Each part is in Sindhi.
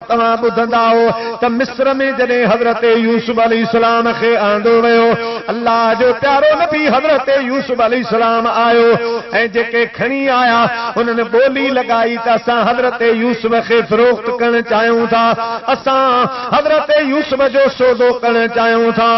توهان ٻڌندائو ته مصر ۾ جڏهن حضرت يوسف عليه السلام کي آندو ويو، الله جو پيارو نبي حضرت يوسف عليه السلام آيو ۽ جيڪي کڻي آيا انهن ٻولي لڳائي ته اسان حضرت يوسف کي فروخت ڪرڻ چاهيون ٿا، اسان حضرت يوسف جو سودو ڪرڻ چاهيون ٿا.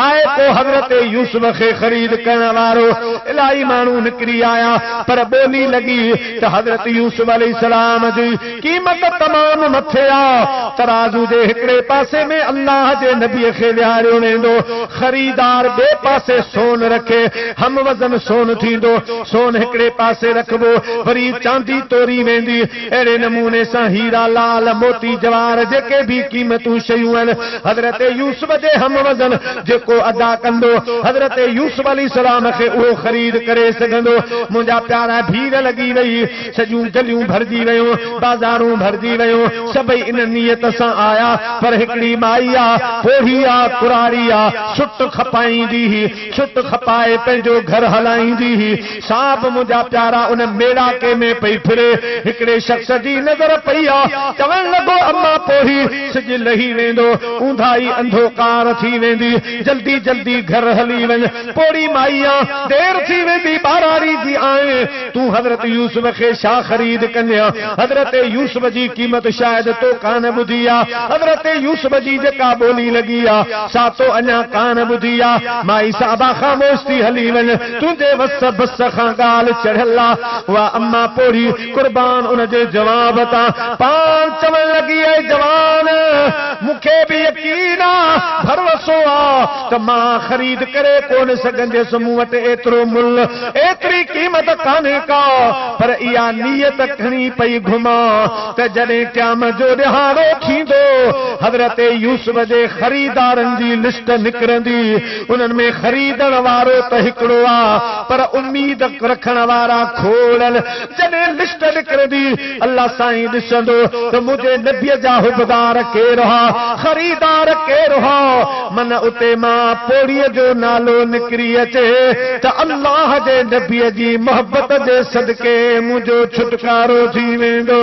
آء پوء حضرت يوسف کي خريد ڪرڻ وارو الاهي ماڻهو نڪري آيا پر ٻولي لڳي ته حضرت يوسف عليه السلام جي قيمت تمام مٿي آ، ترازو جي هڪڙي پاسي ۾ الله جي نبي کي ويهاريو ويندو، خريدار ٻئي پاسي سون رکي، هم وزن سون ٿيندو، سون هڪڙي پاسي رکبو، وري چاندي توري ويندي، اهڙي نموني سان هيرا، لعل، موتي، جواهر جيڪي به قيمتون شيون آهن، حضرت يوسف جي هم وزن جيڪو ادا ڪندو، حضرت يوسف عليه السلام کي اهو خريد ڪري سگهندو، منهنجا پيارا ڀير لڳي وئي. سڄيون گليون ڀرجي ويون، بازارون ڀرجي ويون، سڀئي ان نيت سان آيا، پر هڪڙي مائي آ، پوڙهي آ، ڪراري آ، سٽ کپائيندي هئي، سٽ کپائي پنهنجو گهر هلائيندي هئي، سا به منهنجا پيارا ان ميڙاڪي ۾ پئي ڦري، هڪڙي شخص جي نظر پئي آ، چوڻ لڳو اما پوڙهي، سج لهي ويندو، اونداهي انڌوڪار ٿي ويندي، جلدي جلدي گهر هلي وڃ. پوڙهي مائيء، دير ٿي ويندي ٻاهران ريزي آئين، تون حضرت يوسف کي ڇا خريد ڪندينء؟ حضرت يوسف جي قيمت شايد تو ڪانه ٻڌي آ، حضرت يوسف جي جيڪا ٻولي لڳي آ، سا تو اڃا ڪانه ٻڌي آ. مائي صاحبه خاموش ٿي هلي وڃ، تنهنجي وس بس کان ڳالهه چڙهيل آ. اها اما پوڙهي، قربان ان جي جواب تان پاڻ چوڻ لڳي اي جوان! مون کي به يقين آ، ڀروسو آ ته مان خريد ڪري ڪونه سگهنديس، مون وٽ ايترو ملهه، ايتري قيمت ڪانهي ڪا، پر اها نيت کڻي پئي گهمان ته جڏهن قيامت جو ڏهاڙو ٿيندو، حضرت يوسف جي خريدارن جي لسٽ نڪرندي، انهن ۾ خريدڻ وارو ته هڪڙو آ، پر اميد رکڻ وارا کوڙ جڏهن لسٽ نڪرندي الله سائين ڏسندو ته منهنجي نبي جا حبدار ڪير هئا خريدار ڪير هئا من اتي مان پوڙهي جو نالو نڪري اچي ته الله جي نبي جي محبت جي صدقي منهنجو ڇوٽڪارو ٿي ويندو.